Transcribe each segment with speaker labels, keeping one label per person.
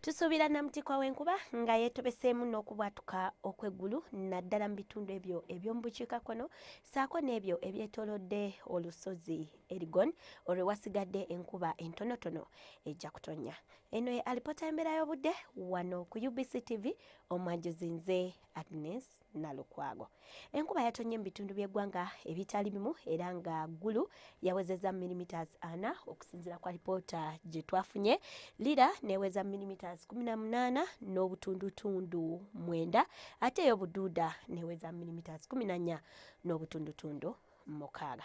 Speaker 1: Tusuubira Namutikwa w'enkuba nga yeetobeseemu n'okubwatuka okw'eggulu naddala mu bitundu ebyo eby'omu bukiikakkono ssaako n'ebyo ebyetoolodde olusozi Erigon olwewasigadde enkuba entonotono ejja kutonnya. Eno ye alipoota y'embeera y'obudde wano ku UBC TV omwajuzi nze Agnes Nalukwago. Enkuba yatonye mu bitundu by'eggwanga ebitali bimu era nga Gulu yawezezza millimeters ana okusinzira kwa lipoota gye twafunye. Lira neweza millimeters kumi na munaana n'obutundutundu mwenda ate eyo Buduuda neweza millimeters kumi na nnya n'obutundutundu mukaaga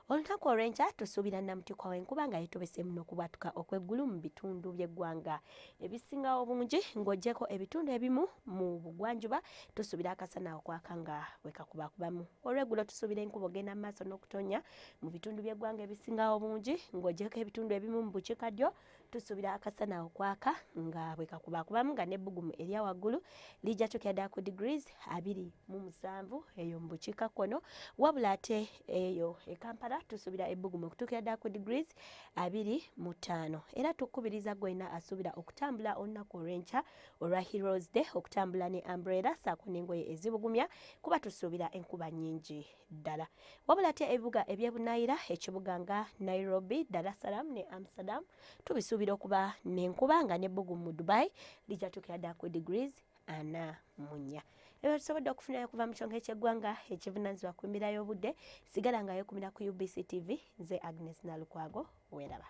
Speaker 1: olunaku olw'enkya tusuubira namutikwa w'enkuba nga yetobeseemu n'okubwatuka okw'eggulu mu bitundu by'eggwanga ebisingawo obungi ng'ogyeko ebitundu ebimu mu bugwanjuba tusuubira akasana okwaka nga wekakubakubamu olw'eggulo tusuubira enkuba ogenda mu maaso n'okutonya mu bitundu by'eggwanga ebisingawo obungi ng'ogyeko ebitundu ebimu mu bukiikaddyo Tusuubira akasana okwaka nga bwe kakubaakubamu nga n'ebbugumu erya waggulu lijja tukira ddala ku degrees abiri mu musanvu eyo mu bukiikakkono wabula ate eyo e Kampala tusuubira ebbugumu okutuukira ddala ku degrees abiri mu ttaano era tukubiriza gwena asuubira okutambula olunaku olw'enkya olwa Heroes Day okutambula ne umbrella saako n'engoye ezibugumya kuba tusuubira enkuba nnyingi ddala. Wabula ate ebibuga eby'e Bunayira, ekibuga nga Nairobi, Dar es Salaam ne Amsterdam tubisuubira okuba n'enkuba nga n'ebbugumu mu Dubai lijja tuukira ddala ku degrees ana mu nnya. Ebyo tusobodde okufunayo okuva mu kyonka eky'eggwanga ekivunaanyizibwa ku mbeera y'obudde sigala nga yeekumira ku UBC TV nze Agnes Nalukwago weeraba.